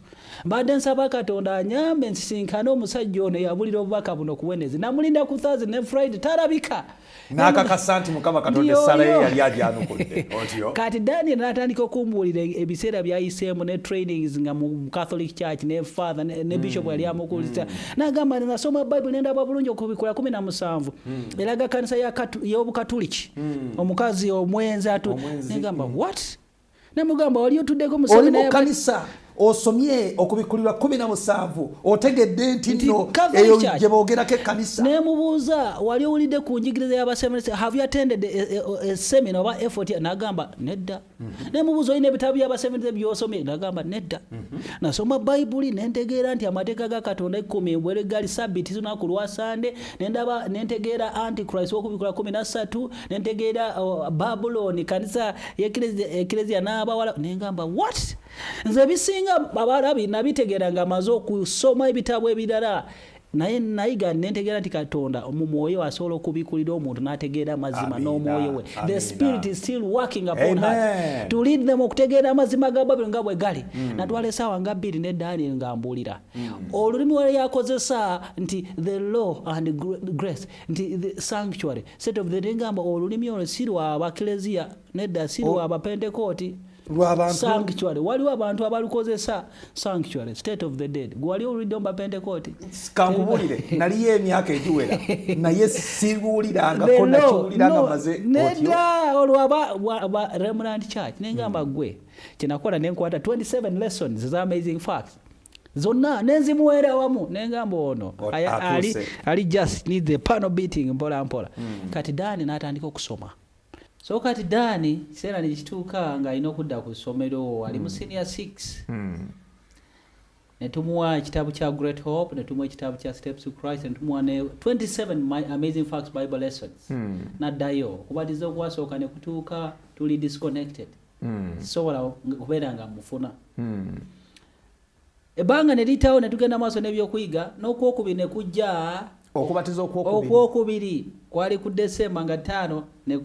mbadde nsaba katonda anyambe nsisinkane omusajja ono yabulira obubaka buno ku wenezde namulinda ku thurs ne friday tarabika nakakasa nti mukama katonda esala ye yali agyanukudde kati daniel natandika okumbuulira ebiseera byayiseemu ne trainings nga mu catholic church ne father ne bishop yali hmm. amukulisa hmm. nagamba nasoma bible nendaba bulungi okubikula kumi na musanvu Hmm. elaga kanisa y'obukatuliki hmm. omukazi omwenzi atnegamba hmm. wat namugamba wali otuddeko mukanisa osomye okubikkulirwa kumi na musanvu otegedde nti nno eyo gye boogerako ekkanisa naye mubuuza wali owulidde ku njigiriza y'abasemese have you attended a, a, a, a seminar oba effort nagamba nedda Mhm. naye mubuuza olina ebitabo byabasevenze byosomye nagamba nedda mhm. nasoma bayibuli nentegeera nti amateeka ga katonda ekkumi embwere gali sabiti zinaku lwa sande nendaba nentegeera antichrist wokubikula kumi nasatu nentegeera oh, babuloni kanisa ekereziya n'abawala nengamba wat nze ebisinga abalabi nabitegeera nga amaze okusoma ebitabo ebirala naye nayiga nentegeera nti katonda mu mwoyo asobola okubikulira omuntu n'ategeera amazima n'omwoyo we the spirit is still working upon her to lead them okutegeera amazima ga babiri nga bwe gali mm. natwala esaawa nga bbiri ne daniel nga mbuulira mm. olulimi wala yakozesa nti the law and grace nti the sanctuary set of the ngamba olulimi olwo si lwa bakleziya nedda si lwa bapentekooti sanctuary waliwo abantu abalukozesa sanctuary state of the dead gwewali owulidde mba pentecote kankubulire naliyo emyaka egiwera naye siwulirangako nakiwulira nga maze nedda olwaba remnant church nengamba hmm. gwe kyenakola nenkwata 27 lessons is amazing facts zonna nenzimuweera wamu nengamba ono ali just need the panel beating mpola mpola hmm. kati dani natandika okusoma so kati daani kiseera nekituuka nga alina okudda ku ssomero ali mu hmm. senior six hmm. netumuwa ekitabo kya great hope netumuwa ekitabo kya steps to christ netumuwa ne 27 my amazing facts bible lessons hmm. naddayo okubatiza okwasooka nekutuuka tuli disconnected sisobola kubeera nga mufuna Ebbanga ne liyitawo ne tugenda maaso n'ebyokuyiga n'okwokubiri ne kujja. Okubatiza okwokubiri. Okwokubiri kwali ku December nga ttaano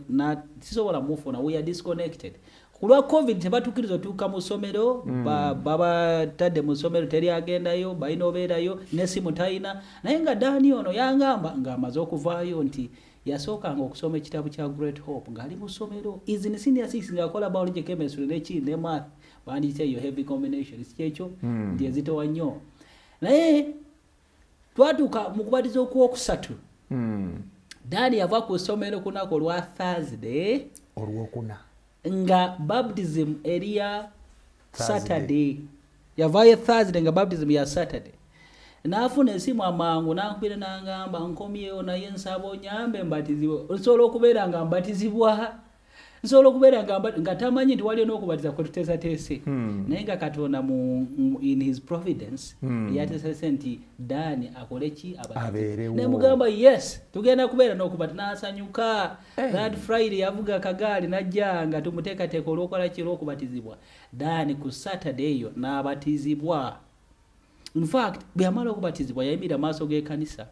na sisobola mufuna we are disconnected. Ku lwa covid tebatukkiriza otuuka mu ssomero mm. babatadde mu ssomero teri agendayo balina obeerayo n'essimu talina naye nga daani ono yangamba ng'amaze okuvaayo nti yasookanga okusoma ekitabo kya great hope ng'ali mu ssomero is in senior six ng'akola biology chemistry nekindi ne math bandiyise eyo heavy combination sikyekyo hmm. nti ezitowa nnyo naye twatuuka mu kubatiza okwokusatu hmm. daani yava ku ssomero kunaku olwa thursday olwokuna nga baptism eriya saturday yavayo thursday nga baptism ya saturday nafuna esimu amangu nankubira nangamba nkomyewo naye nsaba onyambe mbatizibwe nsobola okubeera nga mbatizibwa nsobola okubeera nga tamanyi nti waliyo n'okubatiza kwe tuteesateese hmm. naye nga katonda mu in his providence hmm. yateesese nti daani akole ki abatenaye mugamba yes tugenda kubeera n'okubati n'asanyuka eh. that friday yavuga kagaali najja nga tumuteekateeka olwokola ki olwokubatizibwa daani ku saturday eyo n'abatizibwa infact bwe yamala okubatizibwa yayimira maaso g'ekanisa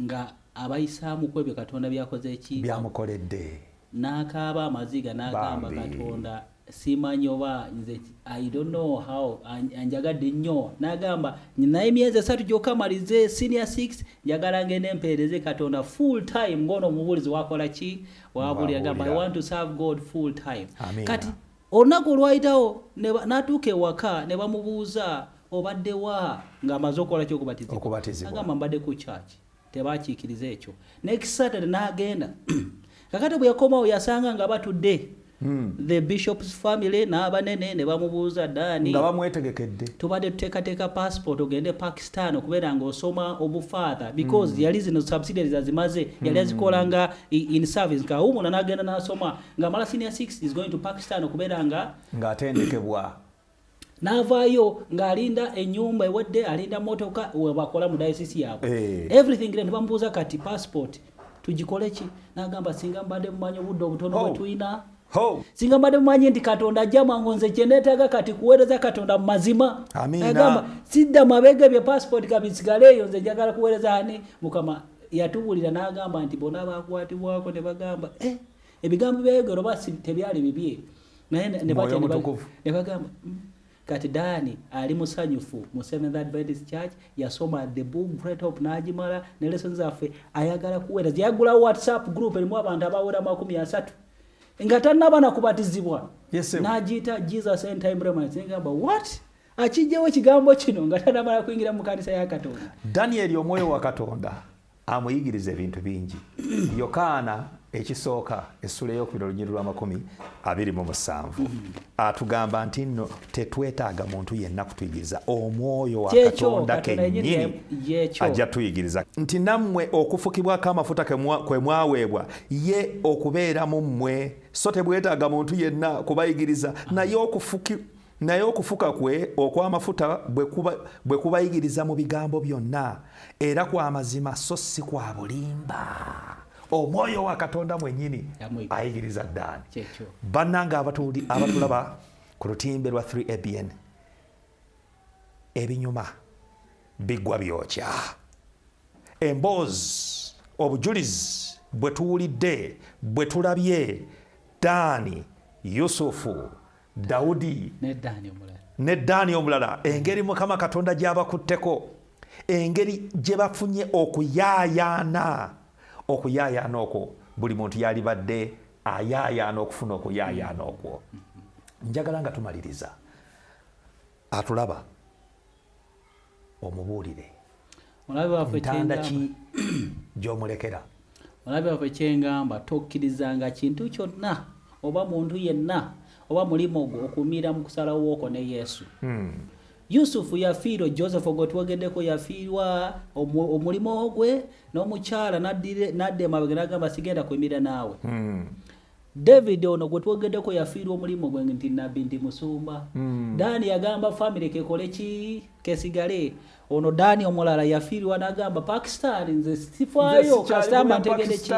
nga abayisaamu kwebyo katonda byakoze ki byamukoledde n'akaaba amaziga n'agamba katonda simanyi oba nze i don't know how anjagadde nnyo n'agamba naye emyezi esatu gyokka malize senior 6 njagala ngende empeereze katonda full time ng'ono omubuulizi wakola ki wabuulira gamba i want to serve god full time Amina. kati Olunaku olwayitawo n'atuuka ewaka ne bamubuuza obadde wa ng'amaze okukola ki okubatizibwa agamba mbadde ku kyaki tebakiikiriza ekyo next saturday n'agenda kakati bwe yakomawo yasanga nga batudde Hmm. the bishop's family n'abanene ne bamubuuza daani nga bamwetegekedde tubadde tuteekateeka passport ogende e pakistan okubeera nga osoma obufather because hmm. yali zino subsidiaries azimaze yali hmm. azikola nga in service kawumula n'agenda n'asoma nga mala senior 6 is going to pakistan okubeera nga ng'atendekebwa n'avaayo ng'alinda enyumba ewadde alinda motoka webakola mu diocese yaabwe eh. everything ne bamubuuza kati passport tugikole ki n'agamba singa mbadde mumanyi obudde obutono bwe oh. tulina singa mbadde mumanyi nti katonda ajja mwangu nze kyenetaaga kati kuweereza katonda mu mazima agamba sidda mabega ebyo passport kabisigale eyo nze njagala kuweereza ani mukama yatubulira n'agamba nti bona bakwatibwako ne bagamba eh. ebigambo byayogera oba tebyali bibye naye nebagamba hmm, kati daani ali musanyufu mu seventh adventist church yasoma the book great hope n'agimala ne lesson zaffe ayagala kuwera yagulawo whatsapp group erimu abantu abawera makumi asatu nga tannaba nakubatizibwa n'agiyita jesus end time remnants ngamba what akijjawo ekigambo kino nga tanamala kuyingira mu kanisa ya katonda danieli omwoyo wa katonda amuyigiriza ebintu bingi yokaana ekisooka essula eyokubiri olunyiri lwamakumi abiri mu musanvu atugamba nti nno tetwetaaga muntu yenna kutuyigiriza omwoyo wa katonda kenyini ajja tuyigiriza nti nammwe okufukibwako amafuta kwe mwaweebwa ye okubeera mu mmwe so tebwetaaga muntu yenna kubayigiriza naye okufuki Naye okufuka kwe okw'amafuta bwe kubayigiriza mu bigambo byonna, era kwa mazima so si kwa bulimba. Omwoyo wa Katonda mwennyini ayigiriza ddaani. Bannange abatulaba ku lutimbe lwa 3ABN, ebinyuma biggwa byokya. Emboozi, obujulizi bwe tuwulidde, bwe tulabye, Ddaani, Yusufu, dawudi ne daani omulala engeri mukama katonda gyabakutteko engeri gye bafunye okuyaayaana okuyaayaana okwo buli muntu yalibadde ayaayaana okufuna okuyaayaana okwo njagala nga tumaliriza atulaba omubuulire ntanda ki gy'omulekera mulabe waffe kyengamba tokkirizanga kintu kyonna oba muntu yenna oba mulimu ogwo okumiira mu kusalawo okwo ne yesu hmm. yusufu yafiirwa joseph ogwo twogeddeko yafiirwa omulimu ogwe n'omukyala nadda emabega nagamba sigenda kuimira naawe hmm. David ono gwe twogedeko yafiirwa omulimu gwe nti nabbi ndi musumba mm. dani yagamba family kekole ki kesigale ono dani omulala yafiirwa nagamba pakistan nze sifayo kasitamba ntegede ki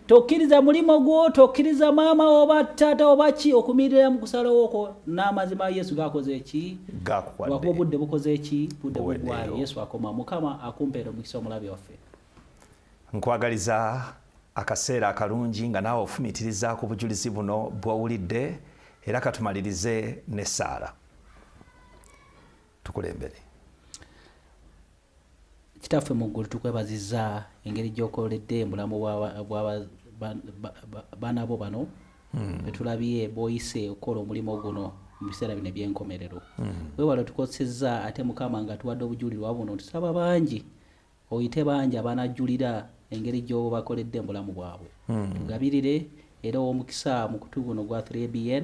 tokkiriza mulimu gwo tokkiriza maama oba tata oba ki okumirira mu kusalawo okwo n'amazima yesu gakoze eki wakuba obudde bukoze eki budde bugwayo yesu akoma mukama akumpeera omukisa omulabi waffe nkwagaliza akaseera akalungi nga naawe ofumitiriza ku bujulizi buno bw'owulidde era katumalirize n'essaala tukulembere kitaffe mu ggulu tukwebaziza engeri gy'okoledde embulamu baana bo bano hmm. betulabye bwoyise okukola omulimu guno mu biseera bino ebyenkomerero hmm. wewala otukosezza ate mukama nga tuwadde obujulirwa buno tusaba bangi oyite bangi abanajjulira engeri gy'obakoledde mu bulamu bwabwe hmm. tugabirire era ow'omukisa mukutu guno gwa 3bn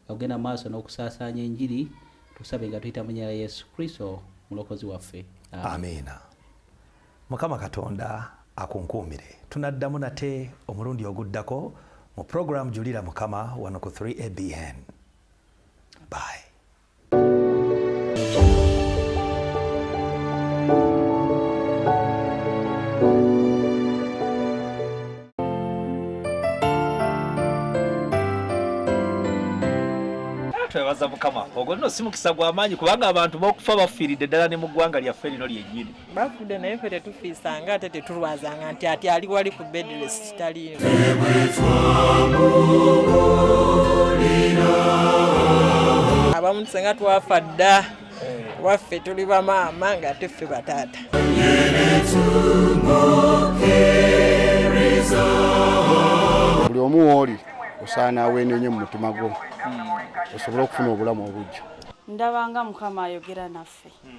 nga gugenda mu maaso n'okusaasaanya enjiri tusabe nga tuyita munyera yesu kristo mulokozi waffe amiina mukama katonda akunkuumire tunaddamu nate omulundi oguddako mu puroguramu julira mukama wano ku 3abn bye twebaza mukama ogwo nno si mukisa gwa maanyi kubanga abantu bakufa bafiiridde ddala ne mu ggwanga lyaffe lino lyennyini bafudde naye fe tetufiisanga ate tetulwazanga nti ati ali wali ku bedrest taliyo abamu tusenga twafa dda waffe tuli bamaama nga ate ffe bataata buli omu wooli osaana aweenenye mu mutima gwo hmm. osobole okufuna obulamu obujja ndabanga mukama ayogera naffe hmm.